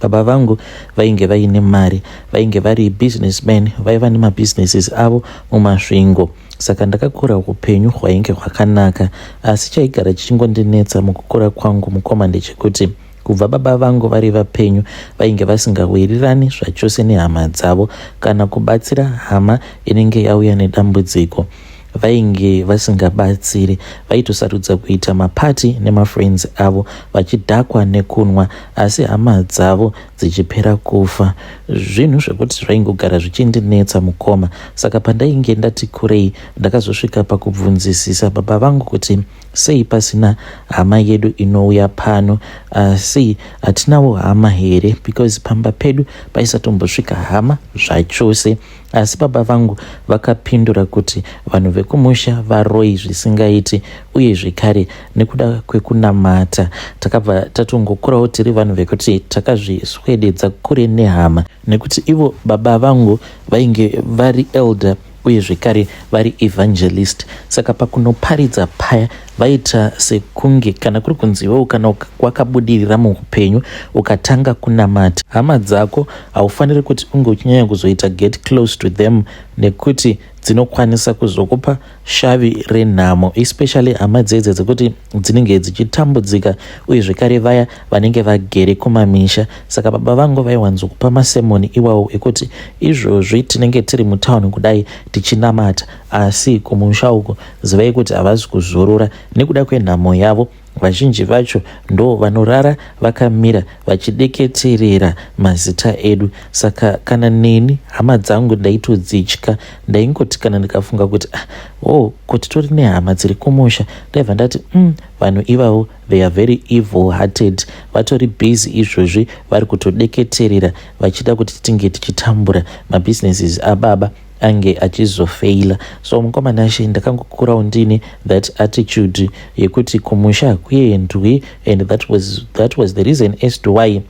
Baba vangu vainge vaine mari, vainge vari business man, vaiva nemabusinesses avo muMasvingo. Saka ndakakura upenyu hwainge hwakanaka. Asi chaigara chichingondinetsa mukukura kwangu mukoma ndechekuti kubva baba vangu vari vapenyu vainge vasingawirirani zvachose nehama dzavo kana kubatsira hama inenge yauya nedambudziko. vainge vasingabatsiri vaitosarudza kuita mapati nemafriends avo vachidhakwa nekunwa asi hama dzavo dzichipera kufa zvinhu zvekuti zvaingogara zvichindinetsa mukoma saka pandainge ndati kurei ndakazosvika pakubvunzisisa baba vangu kuti sei pasina hama yedu inouya pano asi hatinawo hama here because pamba pedu paisatombosvika hama zvachose Asi baba vangu vakapindura kuti vanhu vekumusha varoyi zvisingaiti uye zvekare nekuda kwekunamata takabva tatongokurawo tiri vanhu vekuti takazviswededza kure nehama nekuti ivo baba vangu vainge vari elder uye zvekare vari evangelist saka pakunoparidza paya Vaita sekunge kana kuri kunzi iwewo kana wakabudirira muupenyu ukatanga kunamata hama dzako haufaniri kuti unge uchinyanya kuzoita get close to them nekuti dzinokwanisa kuzokupa shavi renhamo especially hama dzedze dzekuti dzinenge dzichitambudzika uye zvekare vaya vanenge vagere kumamisha saka baba vangu vaiwanzokupa masemoni iwawo ekuti izvozvi tinenge tiri mutown kudai tichinamata asi kumusha uko Zivai kuti havazi kuzorora nekuda kwenhamo yavo. Vazhinji vacho ndo vanorara vakamira vachideketerera mazita edu. Saka kana neni hama dzangu ndaitodzitya, ndaingoti kana ndikafunga kuti ah, oh, kuti tori nehama dziri kumusha ndaibva ndati mm, vanhu ivavo they are very evil hearted, vatori busy izvozvi vari kutodeketerera vachida kuti tinge tichitambura mabhizinesis ababa ange achizofeila so mukoma nashe ndakangokurawo ndine that attitude yekuti kumusha hakuendwi and that was, that was the reason as to why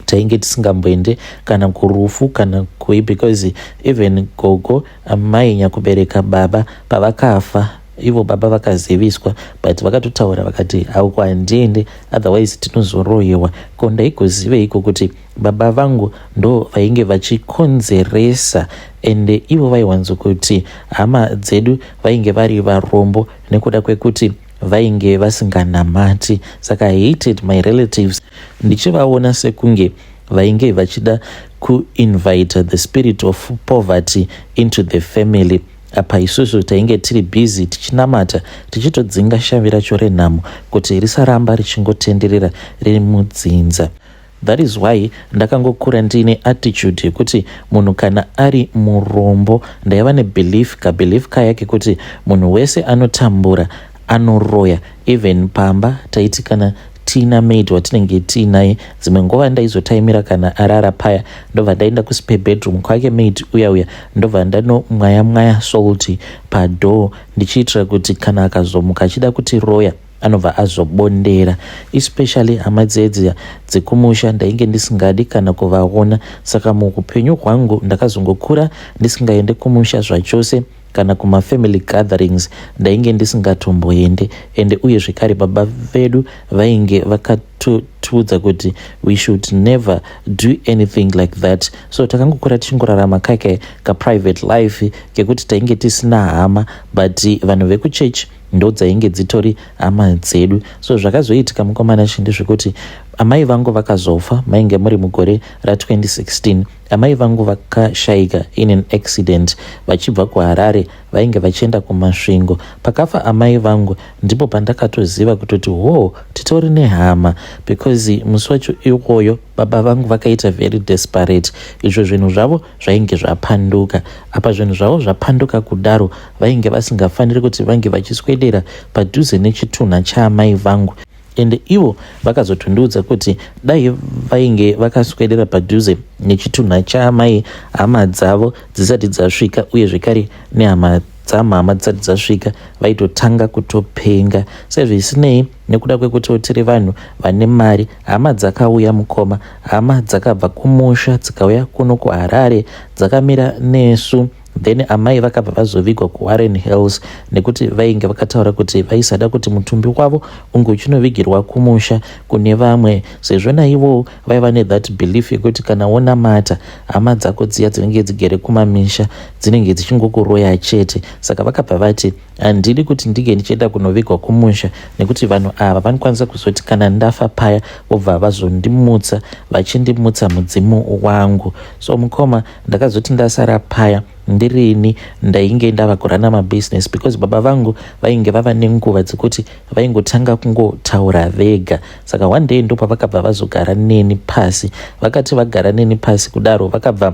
tainge tisingamboende kana kurufu kana kui because even gogo amai nyakubereka baba pavakafa ivo baba vakaziviswa but vakatotaura vakati hauko handiende otherwise tinozoroyewa ko ndaigoziveiko kuti baba vangu ndo vainge vachikonzeresa ende ivo vaiwanzo kuti hama dzedu vainge vari varombo nekuda kwekuti vainge vasinganamati saka hated my relatives ndichivaona sekunge vainge vachida kuinvita the spirit of poverty into the family apa isusu tainge tiri busy tichinamata tichitodzinga shavi racho renhamo kuti risaramba richingotenderera riri mudzinza That is why ndakangokura ndiine attitude yekuti munhu kana ari murombo ndaiva nebelief kabelief kaya kekuti munhu wese anotambura anoroya even pamba taiti kana tina maid watinenge tiinaye dzimwe nguva ndaizotaimira kana arara paya ndobva ndaenda kuspe bedroom kwake maid uya uya ndobva ndanomwaya mwaya solty padoor ndichiitira kuti kana akazomuka achida kuti roya anobva azobondera especially hama dzedzi dzekumusha ndainge ndisingadi kana kuvaona saka muupenyu hwangu ndakazongokura ndisingaende kumusha zvachose kana kumafamily gatherings ndainge ndisingatomboende ende uye zvekare baba vedu vainge vakatiudza kuti we should never do anything like that so takangokura tichingorarama kake kaprivate life kekuti tainge tisina hama but vanhu vekuchechi ndodzainge dzitori hama dzedu so zvakazoitika mukomana chindi zvekuti amai vangu vakazofa mainge muri mugore ra2016 amai vangu vakashaika in an accident vachibva kuharare vainge vachienda kumasvingo pakafa amai vangu ndipo pandakatoziva kutoti hoo titori nehama because musi wacho iwoyo baba vangu vakaita very desperate izvo zvinhu zvavo zvainge zvapanduka apa zvinhu zvavo zvapanduka kudaro vainge vasingafaniri kuti vange vachiswedera padhuze nechitunha chaamai vangu ende ivo vakazotondiudza kuti dai vainge vakaswedera padhuze nechitunha chaamai hama dzavo dzisati dzasvika uye zvekare nehama dzamhama dzisati dzasvika vaitotanga kutopenga sezvisinei nekuda kwekutiwo tiri vanhu vane mari Hama dzakauya mukoma, hama dzakabva kumusha dzikauya kuno kuHarare dzakamira nesu then amai vakabva vazovigwa kuwarren hills nekuti vainge vakataura kuti vaisada kuti mutumbi wavo unge uchinovigirwa kumusha kune vamwe sezvo naivowo vaiva nethat belief yekuti kana wonamata hama dzako dziya dzinenge dzigere kumamisha dzinenge dzichingokuroya chete saka vakabva vati handidi kuti ndinge ndichienda kunovigwa kumusha nekuti vanhu ava vanokwanisa kuzoti kana ndafa paya vobva vazondimutsa vachindimutsa mudzimu wangu so mukoma ndakazoti ndasara paya ndirini ndainge ndava kurana mabusiness because baba vangu vainge vava nenguva dzekuti vaingotanga kungotaura vega saka one day ndopavakabva vazogara neni pasi vakati vagara neni pasi kudaro vakabva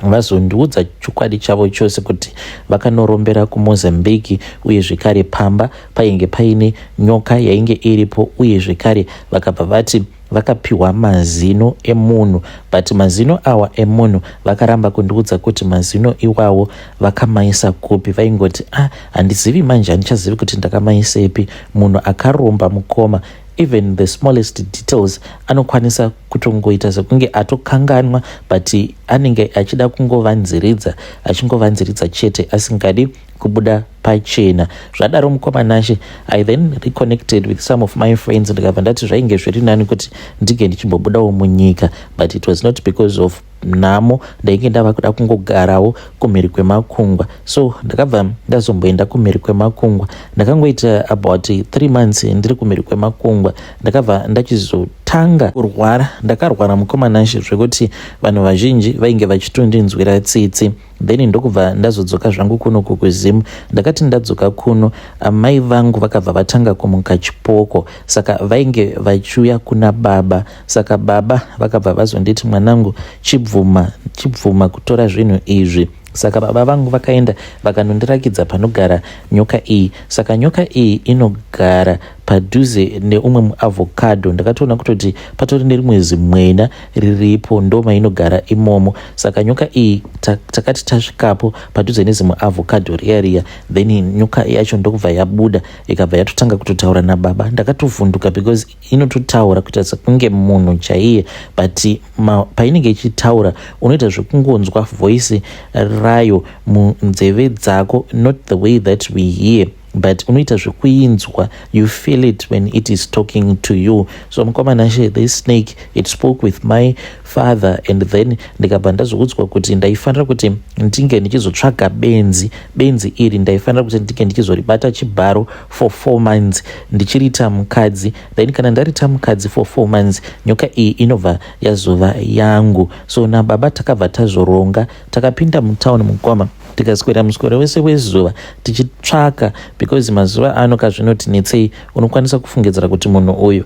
vazondiudza chokwadi chavo chose kuti vakanorombera kumozambique uye zvekare pamba painge paine nyoka yainge iripo uye zvekare vakabva vati vakapiwa mazino emunhu but mazino awa emunhu vakaramba kundiudza kuti mazino iwawo vakamaisa kupi vaingoti a ah, handizivi manje handichazivi kuti ndakamaisepi munhu akaromba mukoma even the smallest details anokwanisa kutongoita sekunge atokanganwa but anenge achida kungovanziridza achingovanziridza chete asingadi kubuda pachena zvadaro mukoma nashe i then reconnected with some of my friends ndikabva ndati zvainge zviri nani kuti ndinge ndichimbobudawo munyika but it was not because of nhamo ndainge ndava kuda kungogarawo kumhiri kwemakungwa so ndakabva ndazomboenda kumhiri kwemakungwa ndakangoita about three months ndiri kumhiri kwemakungwa ndakabva ndachizotanga kurwara ndakarwara mukomanashe zvekuti vanhu vazhinji vainge vachitondinzwira tsitsi then ndokubva ndazodzoka zvangu kuno kukuzim ndakati ndadzoka kuno amai vangu vakabva vatanga kumuka chipoko saka vainge vachiuya kuna baba saka baba vakabva vazonditi mwanangu chibvuma chibvuma kutora zvinhu izvi saka baba vangu vakaenda vakanondirakidza panogara nyoka iyi saka nyoka iyi inogara padhuze neumwe muavocado ndakatoona kutoti patori nerimwe zimwena riripo ndoma inogara imomo saka nyoka iyi takati tasvikapo padhuze nezimwe avocado riya riya then nyoka yacho ndokubva yabuda ikabva yatotanga kutotaura nababa ndakatovhunduka because inototaura kuita sekunge munhu chaiye but painenge ichitaura unoita zvekungonzwa voice rayo munzeve dzako not the way that we hear but unoita zvekuinzwa you feel it when it is talking to you so mukoma nashe this snake it spoke with my father and then ndikabva ndazoudzwa kuti ndaifanira kuti ndinge ndichizotsvaga benzi benzi iri ndaifanira kuti ndinge ndichizoribata chibharo for four months ndichirita mukadzi then kana ndarita mukadzi for four months nyoka iyi inobva yazova yangu so nababa takabva tazoronga Takapinda mutown mukoma tikaswera muswero wese wezuva tichitsvaka because mazuva ano kazvinotinetsei unokwanisa kufungidzira kuti munhu uyu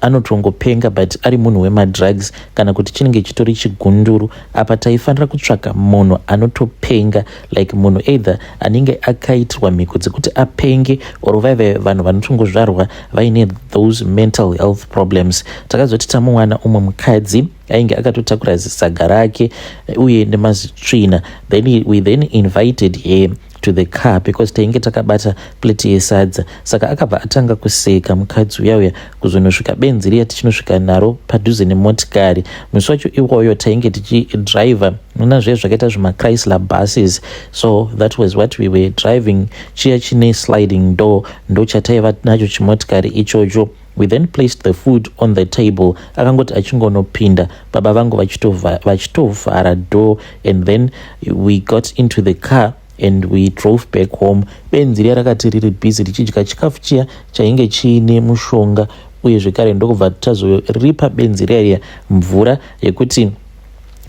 anotongopenga but ari munhu wemadrugs kana kuti chinenge chitori chigunduru apa taifanira kutsvaka munhu anotopenga like munhu either anenge akaitirwa mhiko dzekuti apenge or vaive vanhu vanotongozvarwa vaine those mental health problems takazoti tamuwana umwe mukadzi ainge akatotakura zisaga rake eh, uye nemazitsvina then we then invited her to the car because tainge takabata plate yesadza saka akabva atanga kuseka mukadzi uya uya kuzonosvika benzi riya tichinosvika naro padhuze nemotikari musi wacho iwoyo tainge tichidriver nona zviya zvakaita zvimachrysler buses so that was what we were driving chiya chine sliding door ndochataiva nacho chimotikari ichocho We then placed the food on the table akangoti achingonopinda baba vangu vachitovhara door and then we got into the car and we drove back home benzi riya rakati riri busy richidya chikafu chiya chainge chiine mushonga uye zvekare ndokubva tazoripa benzi riya riya mvura yekuti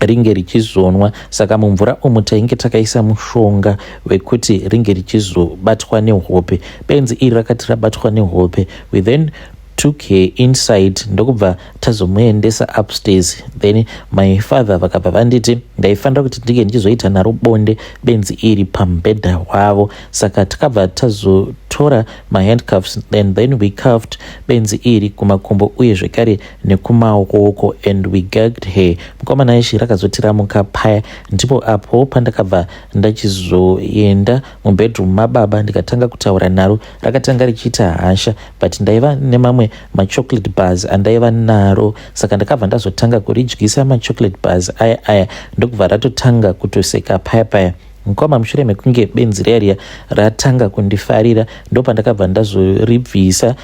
ringe richizonwa saka mumvura umu tainge takaisa mushonga wekuti ringe richizobatwa nehope benzi iri rakati rabatwa nehope we then took her inside ndokubva tazomuendesa upstairs then my father vakabva vanditi ndaifanira kuti ndinge ndichizoita naro bonde benzi iri pamubhedha wavo saka takabva tazotora mahandcuffs and then we cuffed benzi iri kumakumbo uye zvekare nekumaoko and we gagged her mukomana ishi rakazotiramuka paya ndipo apo pandakabva ndachizoenda mubedroom mababa ndikatanga kutaura naro rakatanga richiita hasha but ndaiva nemamwe machocolate bars andaiva naro saka ndakabva ndazotanga kuridyisa machocolate bars aya aya ndokubva ratotanga kutoseka paya paya mukoma mushure mekunge benzi riya riya ratanga kundifarira ndopandakabva ndazoribvisa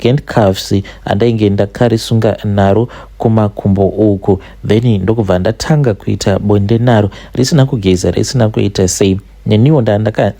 handcuffs andainge ndakarisunga naro kumakumbo uku then ndokubva ndatanga kuita bonde naro risina kugeza risina kuita sei neniwo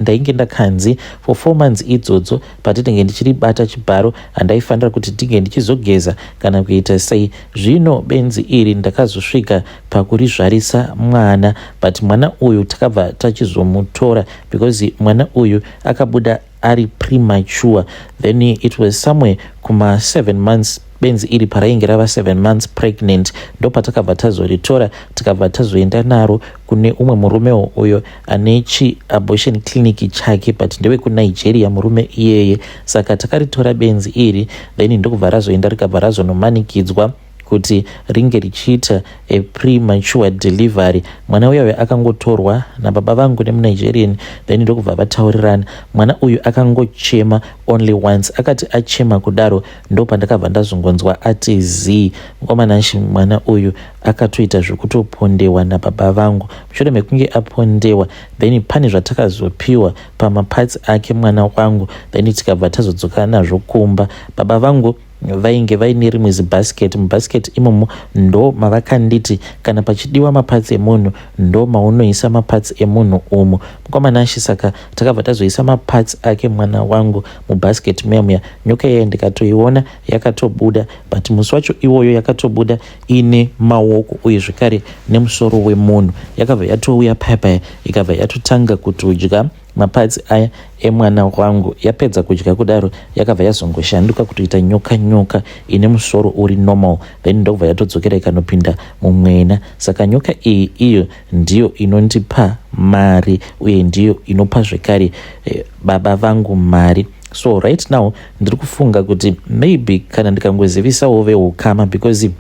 ndainge ndakanzi for four months idzodzo patinenge ndichiribata chibharo handaifanira kuti ndinge ndichizogeza kana kuita sei zvino benzi iri ndakazosvika pakurizvarisa mwana but mwana uyu takabva tachizomutora because mwana uyu akabuda ari premature then it was somewhere kuma 7 months benzi iri parainge rava 7 months pregnant ndopatakabva tazoritora tikabva tazoenda naro kune umwe murumewo uyo ane chiabortion clinic chake but ndewekunigeria murume iyeye saka takaritora benzi iri then ndokubva razoenda rikabva razonomanikidzwa kuti ringe richiita a premature delivery mwana uya uya akangotorwa nababa vangu nemunigerian then ndokubva vataurirana mwana uyu akangochema only once akati achema kudaro ndopandakabva ndazongonzwa ati zii ngomananshi mwana uyu akatoita zvekutopondewa nababa vangu mushure mekunge apondewa then pane zvatakazopiwa pamaparts ake mwana wangu then tikabva tazodzoka nazvo kumba baba vangu vainge vaine rimwe zibhasiketi mubhasiketi imomo ndo mavakanditi kana pachidiwa mapatsi emunhu ndo maunoisa mapatsi emunhu umu mukomana ashe saka takabva tazoisa mapatsi ake mwana wangu mubhasiketi muya muya nyoka iyayo ndikatoiona yakatobuda but musi wacho iwoyo yakatobuda ine maoko uye zvekare nemusoro wemunhu yakabva yatouya paya paya ikabva yatotanga kutodya Maparts aya emwana wangu. Yapedza kudya kudaro yakabva yazongoshanduka kutoita nyoka nyoka ine musoro uri normal then ndokubva yatodzokera ikanopinda mumwena. Saka nyoka iyi iyo ndiyo inondipa mari uye ndiyo inopa zvekare eh, baba vangu mari so right now ndiri kufunga kuti maybe kana ndikangozivisawo veukama because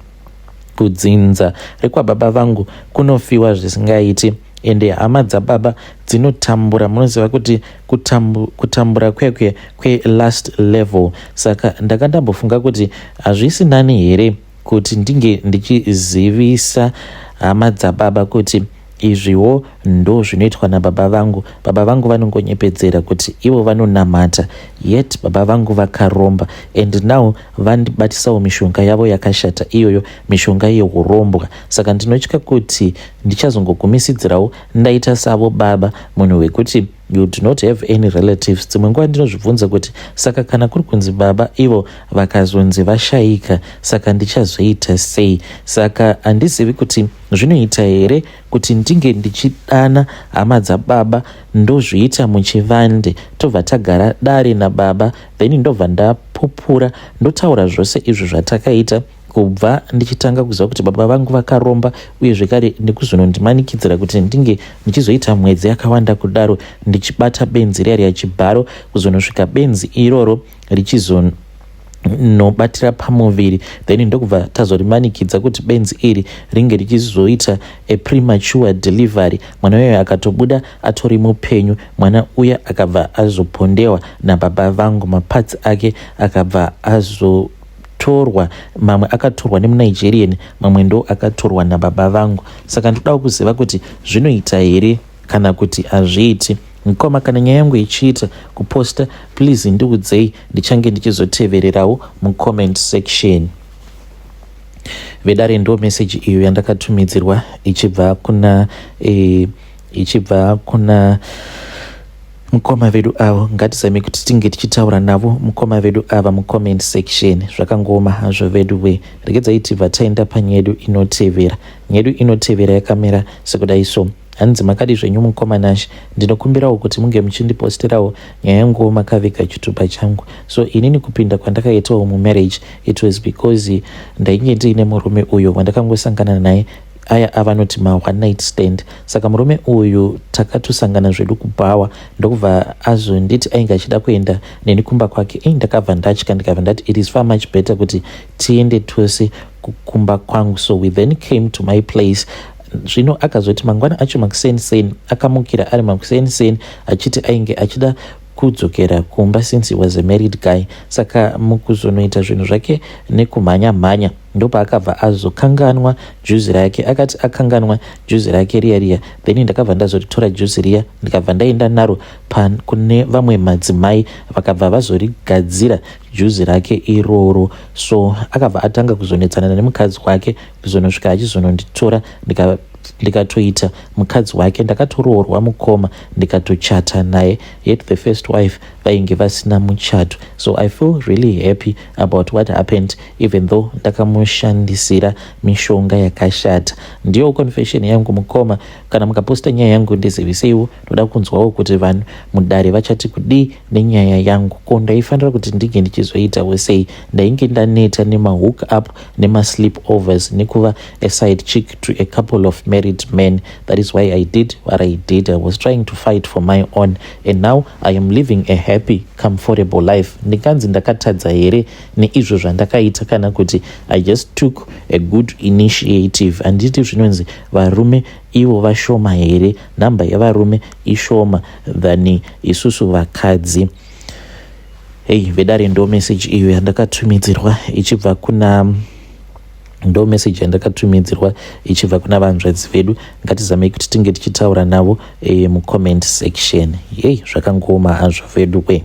kudzinza rekwababa vangu kunofiwa zvisingaiti ende hama dzababa dzinotambura munoziva kuti kutambu, kutambura kwekwe kwelast level saka ndanga ndambofunga kuti hazvisi nani here kuti ndinge ndichizivisa hama dzababa kuti izviwo ndo zvinoitwa nababa vangu baba vangu vanongonyepedzera kuti ivo vanonamata yet baba vangu vakaromba and now vandibatisawo mishonga yavo yakashata iyoyo mishonga yehurombwa saka ndinotya kuti ndichazongogumisidzirawo ndaita savo baba munhu wekuti you do not have any relatives dzimwe nguva ndinozvibvunza kuti saka kana kuri kunzi baba ivo vakazonzi vashayika saka ndichazoita sei saka handizivi kuti zvinoita here kuti ndinge ndichidana hama dzababa ndozviita muchivande tobva tagara dare nababa then ndobva ndapupura ndotaura zvose izvi zvatakaita kubva ndichitanga kuziva kuti baba vangu vakaromba uye zvekare nekuzonondimanikidzira kuti ndinge ndichizoita mwedzi yakawanda kudaro ndichibata benzi riya riya chibharo kuzonosvika benzi iroro richizon nobatira pamuviri then ndokubva tazorimanikidza kuti benzi iri ringe richizoita a premature delivery mwana uyoyo akatobuda atori mupenyu mwana uya akabva azopondewa nababa vangu maparts ake akabva azo torwa mamwe akatorwa nemunigerian mamwe ndo akatorwa nababa vangu saka ndodawo kuziva kuti zvinoita here kana kuti hazviiti mkoma kana nyaya yangu ichiita kuposta please ndiudzei ndichange ndichizotevererawo mucomment section vedare ndo meseji iyo yandakatumidzirwa ichibva kuna e, ichibva kuna Mukoma vedu avo ngatizame kuti tinge tichitaura navo mukoma vedu ava mucomment section zvakangooma hazvo vedu we regedzai tibva taenda panyedu inotevera nyedu inotevera yakamira sekudai so hanzi makadi zvenyu mukoma nash ndinokumbirawo kuti munge muchindipostirawo nyaya yanguwo makaviga chitupa changu so inini kupinda kwandakaitawo mumarriage it was because ndainge ndiine murume uyo wandakangosangana naye aya avanoti ma one night stand saka murume uyu takatosangana zvedu kubhawa ndokubva azonditi ainge achida kuenda neni kumba kwake ei ndakabva ndatya ndikabva ndati it is far much better kuti tiende tose kumba kwangu so we then came to my place zvino akazoti mangwana acho makuseni seni akamukira ari makuseni seni achiti ainge achida kudzokera kumba since he was a married guy saka mukuzonoita zvinhu zvake nekumhanya mhanya, mhanya. ndopaakabva azokanganwa juzi rake akati akanganwa juzi rake riya riya then ndakabva ndazoritora juzi riya ndikabva ndaenda naro pan kune vamwe madzimai vakabva vazorigadzira juzi rake iroro so akabva atanga kuzonetsanana nemukadzi wake kuzonosvika achizononditora ndika ndikatoita mukadzi wake ndakatoroorwa mukoma ndikatochata naye yet the first wife vainge vasina muchato so i feel really happy about what happened even though ndakamushandisira mishonga yakashata ndiyo confession yangu mukoma kana mukaposta nyaya yangu ndiziviseiwo ndoda kunzwawo kuti vanhu mudare vachati kudii nenyaya yangu ko ndaifanira kuti ndinge ndichizoitawo sei ndainge ndaneta nemahook up nemasleep overs nekuva aside chick to a couple of married men that is why i did what i did i was trying to fight for my own and now i am living a happy comfortable life ndikanzi ndakatadza here neizvo zvandakaita kana kuti i just took a good initiative handiti zvinonzi varume ivo vashoma here nhamba yevarume ishoma than isusu vakadzi hei vedare ndo meseji iyo yandakatumidzirwa ichibva kuna Ndo message yandakatumidzirwa ichibva kuna vanzvadzi vedu. Ngatizamei kuti tinge tichitaura navo e, mucomment section. Yei zvakangooma hazvo vedu we.